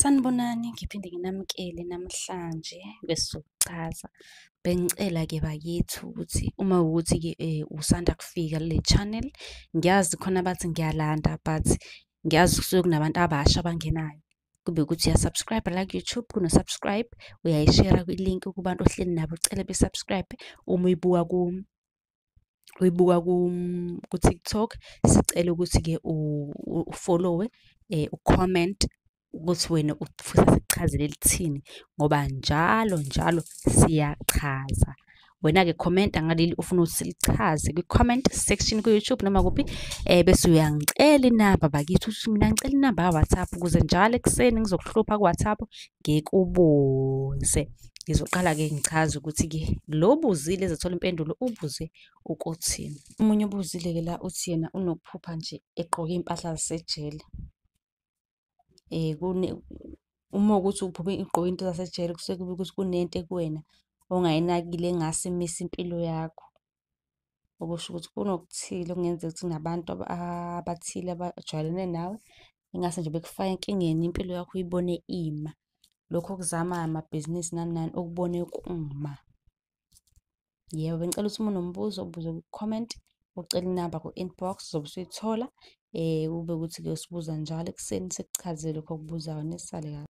Sanibonani, ngiphinde nginamukele namhlanje kwesizokuchaza. Bengicela-ke bakithi ukuthi uma wukuthi-ke usanda kufika kule channel, ngiyazi khona abathi ngiyalanda but ngiyazi kusuke kunabantu abasha abangenayo. Kube ukuthi uya-subscribe la ku-YouTube, kuno-subscribe, uyayishera kwi-link kubantu ohleli nabo ucele be-subscribe uma uyibuka uyibuka ku-TikTok sicela ukuthi-ke ufollowe um u-comment ukuthi wena ufisa sikuchazele lithini ngoba njalo njalo siyachaza wena-ke khomenta ngaleli ufuna ukuthi silichaze kwi-comment section ku-youtube noma kuphi um bese uyangicela inamba bakithi ukuthi mina ngicela inamba ka-whatsapp ukuze njalo ekuseni ngizokuhlupha ku-whatsapp ngikubuze ngizoqala ke ngichaze ukuthi ke lo buzile ezathola impendulo ubuze ukuthi omunye ubuzile ke la uthi yena unokuphupha nje egqoke impahla zasejele eh kune uma ukuthi uphuphe igqoke into zasejele kusekuba ukuthi kunento kuwena ongayinakile engase imise impilo yakho okusho ukuthi kunokuthile okungenzeka ukuthi nabantu abathile abajwayelene nawe ingase nje bekufake enkingeni impilo yakho uyibone ima lokho okuzamayo amabhizinisi nani nani okubone kuma yebo bengicela ukuthi uma unombuzo ubuze ku-comment ucela inamba ku-inbox uzobe usuyithola um kube ukuthi-ke usibuza njalo ekuseni sikuchazele lokho okubuzayo nesale kahle